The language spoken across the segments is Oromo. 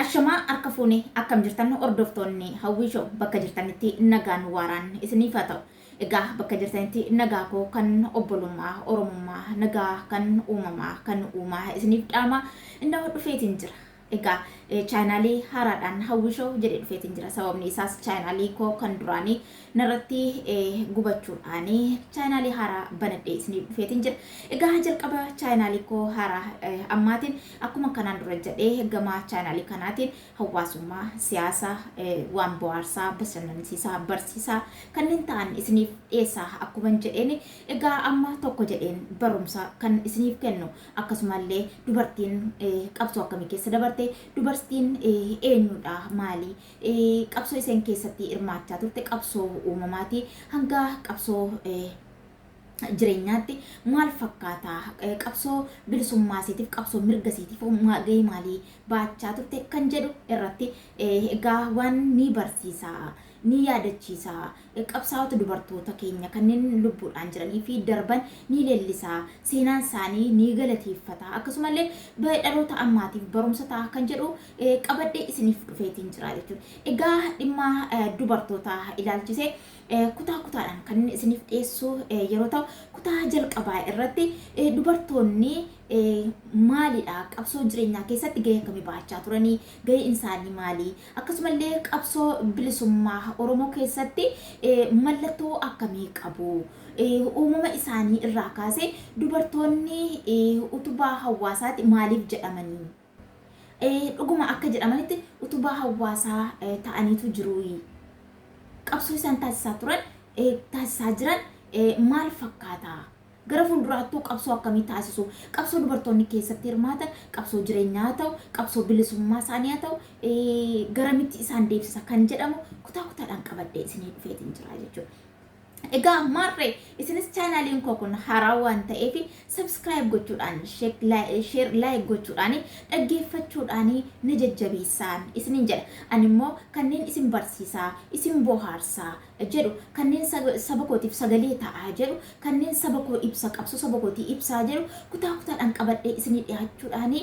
Ashamaa harka fuune akkam jirtan hordoftoonni hawwii show bakka jirtanitti nagaan waaraan isiniif haa ta'u. Egaa bakka jirtanitti nagaa koo kan obbolummaa, oromummaa, nagaa kan uumamaa, kan uumaa isiniif dhaamaa innoo dhufeetiin jira. Egaa chaayinaalii haaraadhaan Hawwii Show jedhee dhufeetiin jira. Sababni isaas chaayinaalii koo kan duraanii narratti gubachuudhaan chaayinaalii haaraa banadhee isiniif dhufeetiin jira. Egaa jalqaba chaayinaalii koo haaraa ammaatiin akkuma kanaan dura jedhee gama chaayinaalii kanaatiin hawaasummaa, siyaasa, waan bohaarsaa, bashannansiisaa, barsiisaa kanneen ta'an isiniif dhiyeessaa akkuman jedheen egaa amma tokko jedheen barumsa kan isiniif kennu Akkasumallee dubartiin qabsoo akkamii keessa dabarte? Dubartiin eenyudha? Maali? Qabsoo isheen keessatti hirmaachaa turte qabsoo uumamaati. Hanga qabsoo jireenyaatti maal fakkaata? Qabsoo bilisummaa isheetiif, qabsoo mirga isheetiif gahee maalii baachaa turte kan jedhu irratti egaa waan ni barsiisa, ni yaadachiisa, Qabsaa'ota dubartoota keenya kanneen lubbuudhaan jiranii fi darban ni leellisa, seenaan isaanii ni galateeffata, akkasuma illee dhaloota ammaatiif barumsa ta'a kan jedhu qabadhee isiniif dhufeetiin jira jechuudha. Egaa dhimma dubartoota ilaalchisee kutaa kutaadhaan kan inni isiniif dhiyeessu yeroo ta'u kutaa jalqabaa irratti dubartoonni maalidha qabsoo jireenyaa keessatti gahee akkamii bahachaa turanii gaheen isaanii maalii Akkasumallee qabsoo bilisummaa Oromoo keessatti mallattoo akkamii qabu? Uumama isaanii irraa kaasee dubartoonni utubaa hawaasaati maaliif jedhamanii? Dhuguma akka jedhamanitti utubaa hawaasaa ta'aniitu jiruuyi? Qabsoo isaan taasisaa turan taasisaa jiran maal fakkaata? Gara fuulduraattuu qabsoo akkamii taasisu? Qabsoo dubartoonni keessatti hirmaatan qabsoo jireenyaa haa ta'u, qabsoo bilisummaa isaanii haa ta'u, garamitti isaan deebsisa kan jedhamu kutaa kutaadhaan qabadhee isinii dhufeetiin jira jechuudha. Egaa maarree isinis chaanaaliin koo kun haaraa waan ta'eef sabskiraayib gochuudhaan sheer laayik gochuudhaan dhaggeeffachuudhaan na jajjabeessaan isinin jedha. Ani immoo kanneen isin barsiisaa, isin bohaarsaa, jedhu, kanneen saba kootiif sagalee ta'aa jedhu, kanneen saba koo ibsa, qabsoo saba kootii ibsaa jedhu kutaa kutaadhaan qabadhee isinii dhiyaachuudhaan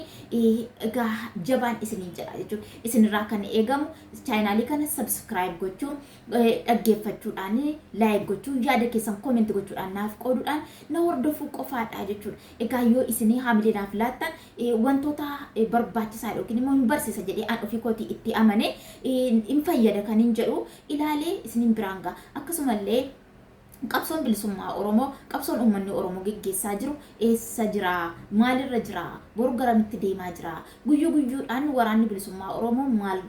egaa jabaan isiniin jedha jechuun isinirraa kan eegamu chaayinaalii kana sabskiraayib gochuun dhaggeeffachuudhaan laayik gochuun yaada keessan koomenti gochuudhaan naaf qooduudhaan na hordofuu qofaadha jechuudha. Egaa yoo isinii haamilee naaf laattan wantoota barbaachisaa yookiin immoo hin barsiisa jedhee an ofii kootii itti amane hin fayyada kan hin jedhu ilaalee isinin biraan ga'a. Akkasumallee qabsoon bilisummaa Oromoo, qabsoon uummanni Oromoo geggeessaa jiru eessa jira? Maalirra jira? Boru garamitti deemaa jira? Guyyuu guyyuudhaan waraanni bilisummaa Oromoo maal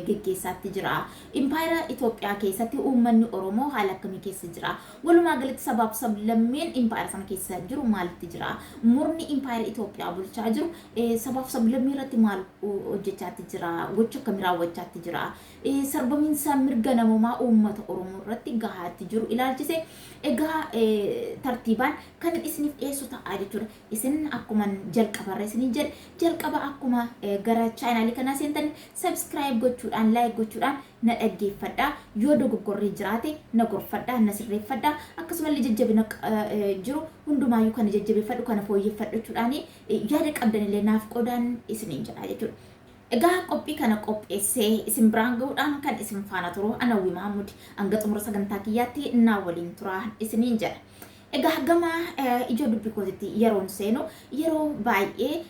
geggeessaatti jira? Impaayera Itoophiyaa keessatti uummanni Oromoo haala akkamii keessa jira? Walumaa galatti sabaaf sablammiin impaayera sana keessa jiru maalitti jira? Murni impaayera Itoophiyaa bulchaa jiru sabaaf sablammii irratti maal hojjechaatti jira? Gocha akkamii raawwachaatti jira? Sarbamiinsa mirga namomaa uummata Oromoo irratti gahaatti jiru ilaalchisee egaa tartiibaan kanin isiniif dhiyeessu ta'a jechuudha. Isin akkuman jalqabarra isiniin jedhe jalqaba akkuma gara chaanaalii kanaa seentaniin subscribe gochuudhaan like gochuudhaan na dhaggeeffadhaa. Yoo dogoggorri jiraate na gorfadhaa na sirreeffadhaa. Akkasumallee jajjabina jiru hundumaayyuu kana jajjabeeffadhu kana fooyyeffadhu jechuudhaan yaada qabdanillee naaf qoodaan isiniin jedha jechuudha. Egaa qophii kana qopheessee isin biraan gahuudhaan kan isin faana turu ana Hawwii Mahammud. Hanga xumura sagantaa kiyyaatti naa waliin turaa isiniin jedha. Egaa gama ijoo dubbii kootitti yeroon seenu yeroo baay'ee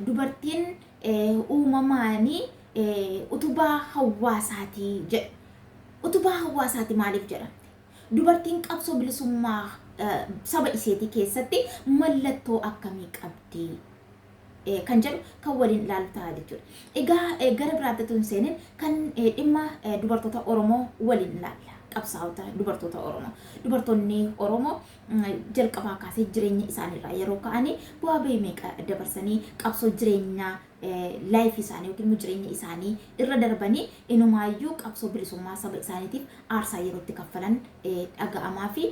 dubartiin uumamaanii utubaa hawaasaati jedhu. Utubaa hawaasaati maaliif jedha? Dubartiin qabsoo bilisummaa saba isheetii keessatti mallattoo akkamii qabdi? kan jedhu kan waliin ilaallu ta'a jechuudha. Egaa gara biraatti otoo hin seenin kan dhimma dubartoota Oromoo waliin ilaalla. Qabsaa'ota dubartoota Oromoo. Dubartoonni Oromoo jalqabaa kaasee jireenya isaaniirraa yeroo ka'anii bu'aa bahii meeqa dabarsanii qabsoo jireenya laayif isaanii yookiin immoo jireenya isaanii irra darbanii inumaayyuu qabsoo bilisummaa saba isaaniitiif aarsaa yerootti kaffalan dhaga'amaa fi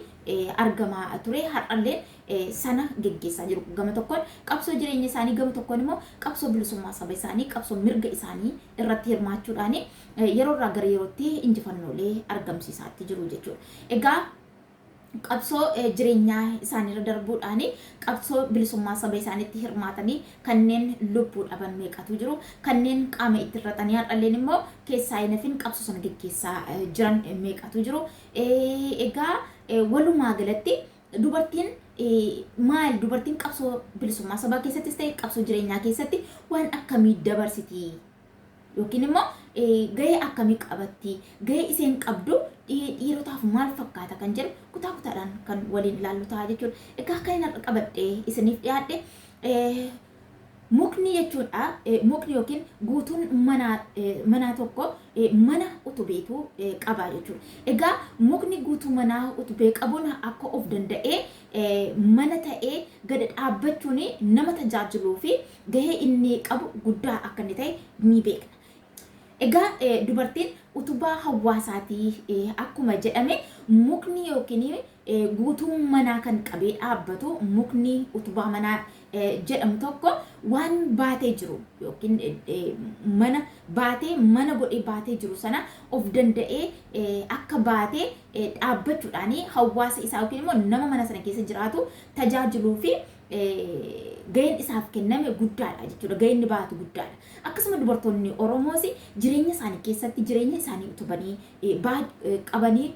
argamaa ture har'allee sana geggeessaa jiru. Gama tokkoon qabsoo jireenya isaanii gama tokkoon immoo qabsoo bilisummaa saba isaanii qabsoo mirga isaanii irratti hirmaachuudhaan yeroo irraa gara yerootti injifannoolee argamsiisaa itti jiru jechuudha. Egaa qabsoo jireenyaa isaaniirra darbuudhaan qabsoo bilisummaa saba isaaniitti hirmaatanii kanneen lubbuu dhaban meeqatu jiru kanneen qaama itti irratanii har'alleen immoo keessaa hinafin qabsoo sana geggeessaa jiran meeqatu jiru egaa walumaa galatti Dubartiin maal dubartiin qabsoo bilisummaa sabaa keessattis ta'e qabsoo jireenyaa keessatti waan akkamii dabarsiti yookiin immoo gahee akkamii qabatti gahee isheen qabdu dhiirotaaf maal fakkaata kan jedhu kutaa kutaadhaan kan waliin ilaallu ta'a jechuudha. Egaa kan inni qabadhee isiniif dhiyaadhe Mukni jechuun a mukni yookiin guutuun manaa manaa tokko mana utubeetu qaba jechuudha. Egaa mukni guutuu manaa utubee qabuun akka of danda'ee mana ta'ee gad dhaabbachuun nama tajaajiluu fi gahee inni qabu guddaa akka inni ta'e ni beekna. Egaa dubartiin utubaa hawaasaati akkuma jedhame mukni yookiin Guutuun manaa kan qabee dhaabbatu mukni utubaa manaa jedhamu tokko waan baatee jiru yookiin mana baatee mana godhee baatee jiru sana of danda'ee akka baatee dhaabbachuudhaan hawaasa isaa yookiin immoo nama mana sana keessa jiraatu tajaajiluu fi ga'een isaaf kenname guddaadha jechuudha. Ga'een inni baatu guddaadha. Akkasuma dubartoonni Oromoos jireenya isaanii keessatti jireenya isaanii utubanii qabanii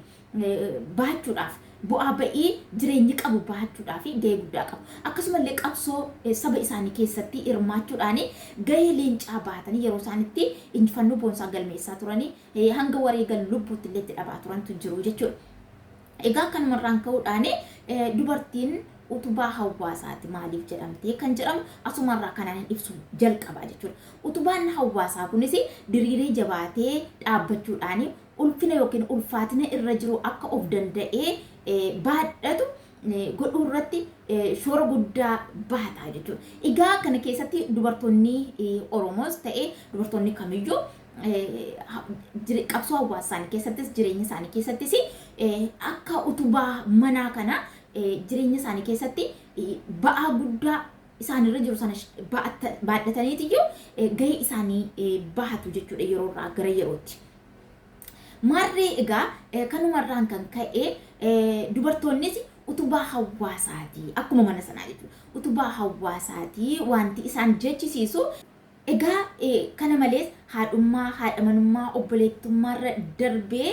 bahachuudhaaf, bu'aa ba'ii jireenyi qabu bahachuudhaaf gahee guddaa qabu. Akkasuma illee qabsoo saba isaanii keessatti hirmaachuudhaan gahee leencaa bahatanii yeroo isaan itti injifannoo boonsaa galmeessaa turan, hanga wareegan lubbuutti illee itti dhabaa turantu jiru jechuudha. Egaa kanuma irraan ka'uudhaan dubartiin utubaa hawaasaati maaliif jedhamtee kan jedhamu asuma irraa kanaan ibsu jalqabaa jechuudha. Utubaan hawaasaa kunis diriiree jabaatee dhaabbachuudhaan ulfina yookiin ulfaatina irra jiru akka of danda'ee baadhatu godhuu irratti shoora guddaa bahata jechuudha. Egaa kana keessatti dubartoonni Oromoos ta'e dubartoonni kamiyyuu qabsoo hawaasa isaanii keessattis jireenya isaanii keessattis akka utubaa manaa kana jireenya isaanii keessatti ba'aa guddaa isaanirra jiru sana baadhataniitiyyuu gahee isaanii bahatu jechuudha yeroo irraa gara yerootti. Maarree egaa kanumarraan kan ka'e dubartoonnis utubaa hawaasaatii akkuma mana sanaa jechuudha. Utubaa hawaasaatii wanti isaan jechisiisu Egaa kana malees haadhummaa, haadha manummaa, obboleettummaarra darbee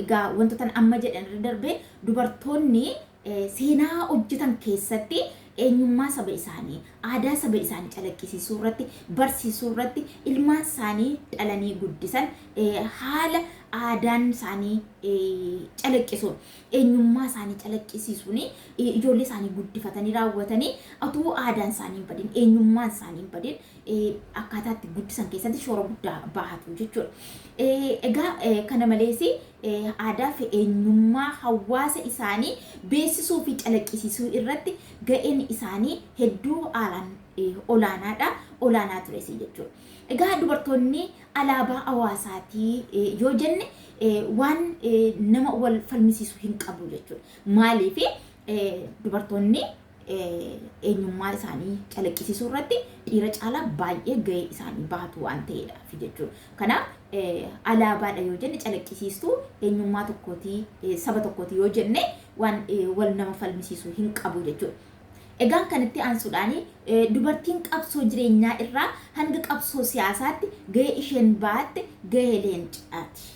egaa wantoota amma jedhanirra darbee dubartoonni seenaa hojjetan keessatti eenyummaa saba isaanii, aadaa saba isaanii calaqqisiisuu irratti, barsiisuu irratti ilmaan isaanii dhalanii guddisan haala aadaan isaanii calaqqisuun, eenyummaa isaanii calaqqisiisuun ijoollee isaanii guddifatanii raawwatanii utuu aadaan isaanii hin badin, eenyummaan isaanii hin badin akkaataa itti guddisan keessatti shoora guddaa bahatu jechuudha. Egaa kana malees aadaa fi eenyummaa hawaasa isaanii beeksisuu fi calaqqisiisuu irratti ga'een isaanii hedduu haalaan olaanaadha. Olaanaa tures jechuudha. Egaa dubartoonni alaabaa hawaasaatii yoo jenne waan nama wal falmisiisu hin qabu jechuudha. Maaliif dubartoonni eenyummaa isaanii calaqqisiisuu irratti dhiira caalaa baay'ee gahee isaanii bahatu waan ta'eedha fi jechuudha. Kanaaf alaabaadha yoo jenne calaqqisiistuu eenyummaa tokkootii saba tokkootii yoo jenne waan wal nama falmisiisu hin qabu jechuudha. Egaan kanatti aansuudhaan dubartiin qabsoo jireenyaa irraa hanga qabsoo siyaasaatti gahee isheen baatte gahee leencaati.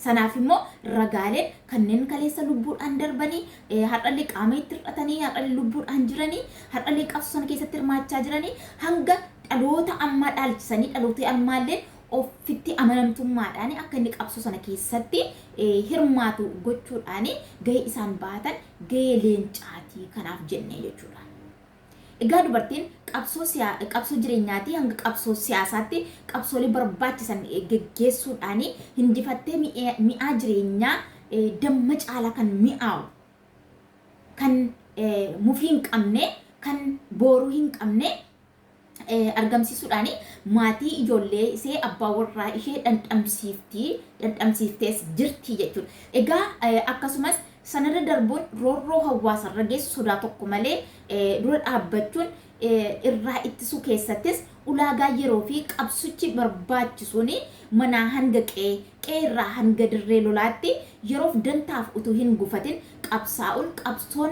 Sanaaf immoo ragaaleen kanneen kaleessa lubbuudhaan darbanii, har'allee qaama itti hir'atanii, har'allee lubbuudhaan jiranii, har'allee qabsoo sana keessatti hirmaachaa jiranii hanga dhaloota ammaa dhaalchisanii dhalootni ammaalleen ofitti amanamtummaadhaan akka inni qabsoo sana keessatti hirmaatu gochuudhaan gahee isaan bahatan gahee leencaatii kanaaf jennee jechuudha. Egaa dubartiin qabsoo siyaa qabsoo jireenyaatii hanga qabsoo siyaasaatti qabsoolee barbaachisan geggeessuudhaan hinjifattee mi'ee mi'aa jireenyaa damma caalaa kan mi'aawu kan mufii hin qabne kan booruu hin qabne argamsiisuudhaan maatii ijoollee isee abbaa warraa ishee dhandhamsiiftii dhandhamsiiftees jirti jechuudha. Egaa akkasumas Sanarra darbuun roorroo hawaasarra geessu sodaa tokko malee dura dhaabbachuun irraa ittisuu keessattis ulaagaa yeroo fi qabsuchi barbaachisuun manaa hanga qe'ee, qe'ee irraa hanga dirree lolaatti yeroof dantaaf utuu hin gufatin qabsaa'uun qabsoon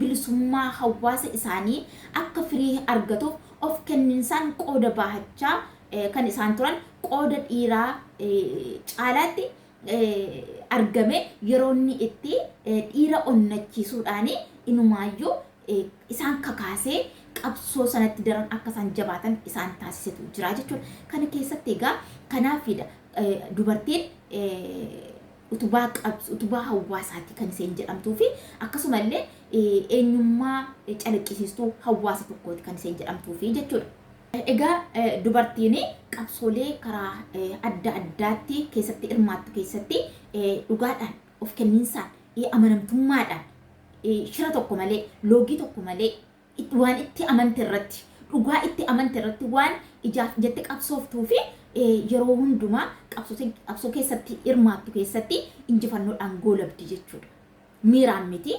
bilisummaa hawaasa isaanii akka firii argatuuf of kenninsaan qooda bahachaa kan isaan turan qooda dhiiraa caalaatti argame yeroo inni itti dhiira onnachiisuudhaan inumaayyuu isaan kakaasee qabsoo sanatti daran akka isaan jabaatan isaan taasisetu jira jechuudha. Kana keessatti egaa kanaafidha dubartiin utubaa qabs utubaa hawaasaati kan isheen jedhamtuu fi akkasuma illee eenyummaa calaqqisiistuu hawaasa tokkooti kan isheen jedhamtuu fi jechuudha. Egaa dubartiin qabsoolee karaa adda addaatti keessatti hirmaattu keessatti dhugaadhaan, of kenniinsaan, amanamtummaadhaan, shira tokko malee, loogii tokko malee waan itti amante irratti, dhugaa itti amante irratti waan ijaaf ijatti qabsooftuu fi yeroo hundumaa qabsoo keessatti hirmaattu keessatti injifannoodhaan goolabdi jechuudha. Miiraan miti.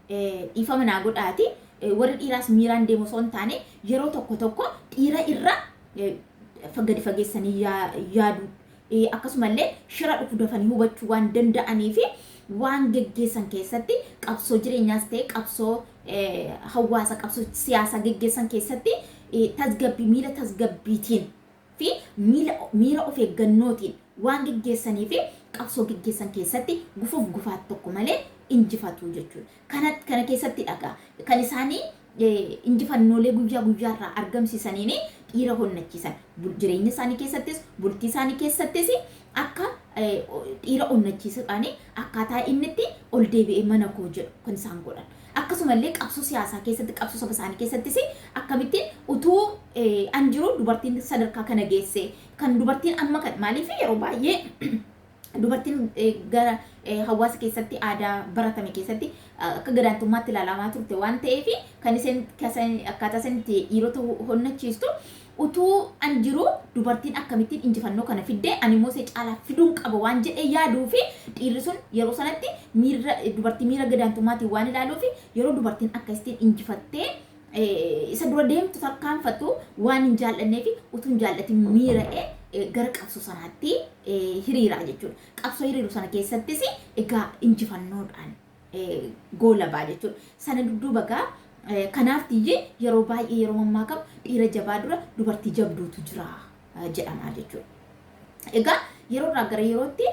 Dhiifama naa godhaati warri dhiiraas miiraan deemu osoo hin taane yeroo tokko tokko dhiira irra gadi fageessanii yaaduu akkasumallee shira dhufu dafanii hubachuu waan danda'anii fi waan geggeessan keessatti qabsoo jireenyaas ta'e qabsoo hawaasa qabsoo siyaasaa geggeessan keessatti tasgabbii miira tasgabbiitiin fi miila miira of eeggannootiin waan geggeessanii fi qabsoo geggeessan keessatti gufuuf gufaat tokko malee injifatu jechuudha. Kana kana keessatti dhagaa kan isaanii injifannoolee guyyaa guyyaa irraa argamsiisaniin dhiira honnachiisan. Jireenya isaanii keessattis bultii isaanii keessattis akka dhiira onnachiisuudhaan akkaataa inni itti ol deebi'ee mana koo jedhu kan isaan godhan. Akkasumallee qabsoo siyaasaa keessatti, qabsoo saba isaanii keessattis akkamittiin utuu an jiruu dubartiin sadarkaa kana geesse, kan dubartiin amma kan maaliif yeroo baay'ee dubartiin gara hawaasa keessatti aadaa baratame keessatti akka gadaantummaatti ilaalamaa turte waan ta'eef kan isheen akkaataa isheen itti dhiirota honnachiistu Utuu an jiruu dubartiin akkamittiin injifannoo kana fidde, ani immoo isee caalaa fiduun qaba waan jedhee yaaduu fi dhiirri sun yeroo sanatti miirra dubartii miira gadaantummaatiin waan ilaaluuf yeroo dubartiin akkasittiin injifattee isa dura deemtu tarkaanfattu waan hin jaal'anneef utuu hin jaal'atiin miira'ee gara qabsoo sanaatti hiriira jechuudha. Qabsoo hiriiru sana keessattis egaa injifannoodhaan goolabaa jechuudha. Sana dudduuba gaa kanaaf tiyye yeroo baay'ee yeroo mammaakamu dhiira jabaa dura dubartii jabduutu jira jedhama jechuudha. Egaa yeroo irraa gara yerootti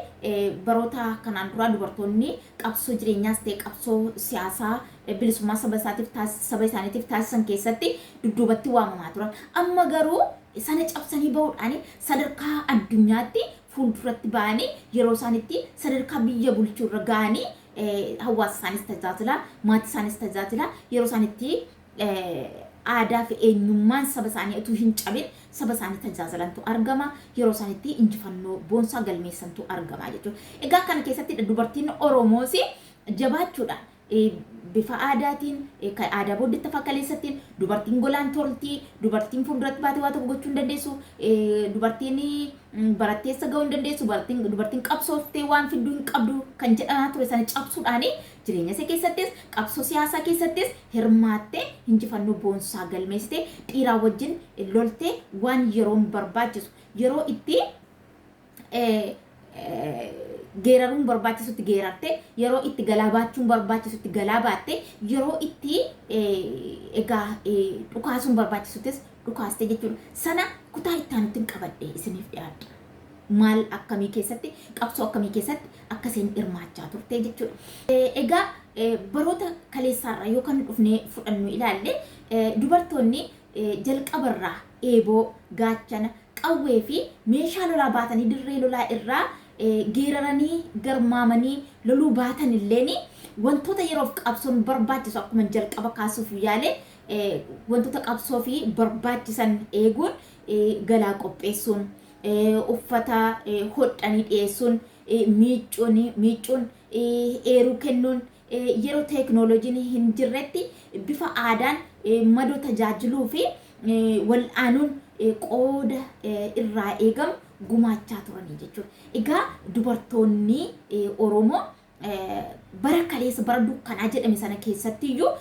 baroota kanaan duraa dubartoonni qabsoo jireenyaas ta'e qabsoo siyaasaa bilisummaa saba isaatiif saba isaaniitiif taasisan keessatti dudduubatti waamamaa turan. Amma garuu sana cabsanii bahuudhaan sadarkaa addunyaatti fuulduratti ba'anii yeroo isaan itti sadarkaa biyya bulchuu irra ga'anii hawaasa isaanis tajaajilaa, maatii isaanis tajaajilaa, yeroo isaan itti aadaa fi eenyummaan saba isaanii utuu hin cabin saba isaanii tajaajilantu argama. Yeroo isaan itti injifannoo boonsaa galmeessantu argama jechuudha. Egaa kana keessatti dubartiin Oromoos jabaachuudhaan bifa aadaatiin, kan aadaa booddeetti afaan kaleessattiin, dubartiin golaan tolti, dubartiin fuulduratti baatee waa tokko gochuu hin dandeessu, dubartiin barattee eessa ga'uu hin dandeessu, dubartiin qabsooftee waan fidduu hin qabdu kan jedhamaa ture sana cabsuudhaan jireenya ishee keessattis, qabsoo siyaasaa keessattis hirmaattee injifannoo boonsaa galmeessitee dhiiraa wajjin loltee waan yeroon barbaachisu yeroo itti geeraruun barbaachisutti geerarte, yeroo itti galaa baachuun barbaachisutti galaa baatte, yeroo itti egaa dhukaasuun barbaachisuttis dhukaaste jechuudha. Sana kutaa itti aanutti qabadhe isiniif dhiyaadha. Maal akkamii keessatti qabsoo akkamii keessatti akka isheen hirmaachaa turte jechuudha. Egaa baroota kaleessaarraa yoo kan dhufnee fudhannu ilaalle dubartoonni jalqabarraa eeboo gaachana qawwee fi meeshaa lolaa baatanii dirree lolaa irraa geeraranii garmaamanii loluu baatan illeen wantoota yeroof qabsoon barbaachisu akkuman jalqaba kaasuuf yaale wantoota qabsoo fi barbaachisan eeguun galaa qopheessuun uffata hodhanii dhiyeessuun miicuun miicuun eeruu kennuun yeroo teeknooloojiin hin jirretti bifa aadaan madoo tajaajiluu fi wal'aanuun qooda irraa eegamu gumaachaa turanii jechuudha. Egaa dubartoonni Oromoo bara kaleessa bara dukkanaa jedhame sana keessatti iyyuu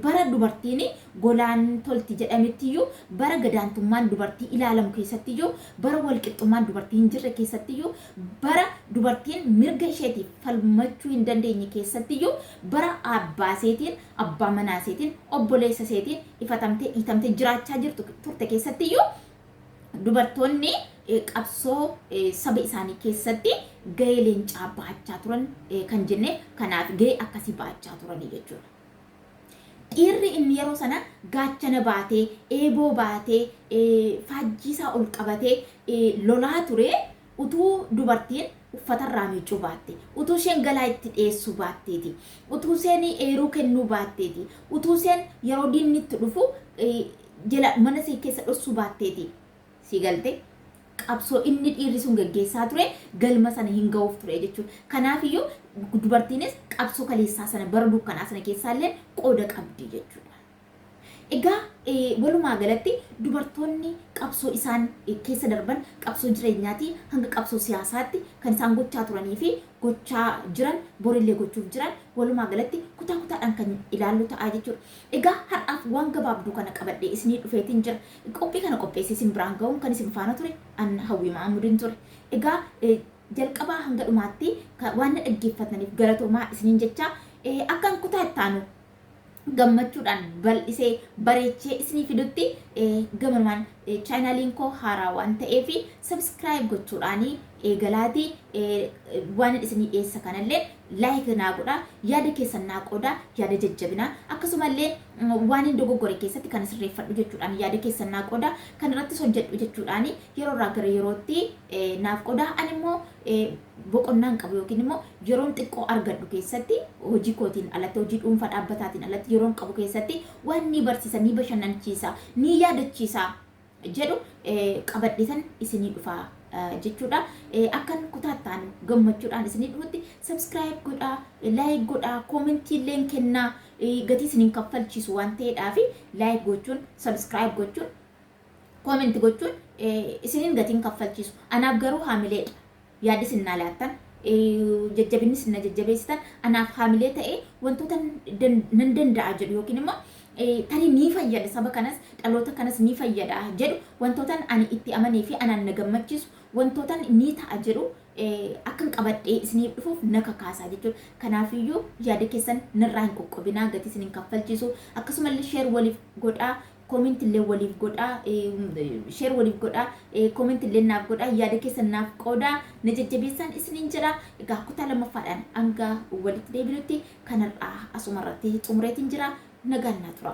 bara dubartiin golaan tolti jedhametti iyyuu bara gadaantummaan dubartii ilaalamu keessatti iyyuu bara walqixxummaan dubartii hin jirre keessatti iyyuu bara dubartiin mirga isheetiif falmachuu hin dandeenye keessatti iyyuu bara abbaaseetiin abbaa manaa iseetiin, obboleessa iseetiin ifatamtee, dhiitamtee jiraachaa jirtu turte keessatti iyyuu dubartoonni eh, qabsoo eh, saba isaanii keessatti gahee leencaa bahachaa turan eh, kan jenne kanaaf gahee akkasii bahachaa turanii jechuudha. Dhiirri inni yeroo sana gaachana baatee, eeboo baatee, eh, faajjii isaa ol qabatee eh, lolaa ture Utuu dubartiin uffatarraa miiccuu baattee, utuu isheen galaa itti dhiyeessuu baatteeti, utuu isheen eeruu kennuu baatteeti, utuu isheen yeroo diinni itti dhufu jala mana ishee keessa dhossuu baatteeti. Sii galte? Qabsoo inni dhiirri sun geggeessaa ture galma sana hin ga'uuf ture jechuudha. Kanaafiyyuu dubartiinis qabsoo kaleessaa sana bara dukkanaa sana keessaallee qooda qabdi jechuudha. Egaa walumaa galatti dubartoonni qabsoo isaan keessa darban qabsoo jireenyaatii hanga qabsoo siyaasaatti kan isaan gochaa turanii fi gochaa jiran borillee gochuuf jiran walumaa galatti kutaa kutaadhaan kan ilaallu ta'a jechuudha. Egaa har'aaf waan gabaabduu kana qabadhee isinii dhufeetiin jira. Qophii kana qopheessee isin biraan ga'uun kan isin faana ture an Hawwii Mahammudin ture. Egaa jalqabaa hanga dhumaatti waan na dhaggeeffataniif galatoomaa isiniin jechaa akkan kutaa ittaanu gammachuudhaan bal'isee bareechee isinii fidutti gamanumaan chaayinaaliin koo haaraa waan ta'eef sabskiraayib gochuudhaan eegalaatii waan isinii dhiyeessa kanallee laayik naa godha yaada keessan naa qooda yaada jajjabinaa akkasumallee waan hin dogoggore keessatti kan sirreeffadhu jechuudhaan yaada keessan naa qooda kan irrattis hojjedhu jechuudhaan yeroo irraa gara yerootti naaf qooda ani immoo boqonnaan qabu yookiin immoo yeroon xiqqoo argadhu keessatti hojii kootiin alatti hojii dhuunfaa dhaabbataatiin alatti yeroon qabu keessatti waan ni barsiisa ni bashannanchiisa ni yaadachiisa jedhu qabadhetan isinii dhufaa jechuudha. Akkan kutaattaan gammachuudhaan isinii dhufutti subscribe godhaa, like godhaa, comment illeen kennaa gatii isiniin kaffalchiisu waan ta'eedhaaf like gochuun subscribe gochuun Comment gochuun isin hin gatiin kaffalchiisu. Anaaf garuu haamilee dha. Yaada isin naa laattan, jajjabinni isin na jajjabeessitan anaaf haamilee ta'ee wantoota nan danda'a jedhu yookiin immoo tarii ni fayyada saba kanas dhaloota kanas ni fayyada jedhu wantootan ani itti amanee fi anaan na gammachiisu wantootan ni ta'a jedhu akkan qabadhee isiniif dhufuuf na kakaasaa jechuudha. Kanaafiyyuu yaada keessan narraa hin qoqqobinaa gatii isin hin kaffalchiisu akkasumallee sheer waliif godhaa comment illee waliif godhaa share waliif godhaa comment illee naaf godhaa yaada keessan naaf qoodaa na jajjabeessaan isiniin jedha egaa kutaa lammaffaadhaan hanga walitti deebinutti kanarraa asuma irratti xumureetiin jira nagaan naa tura.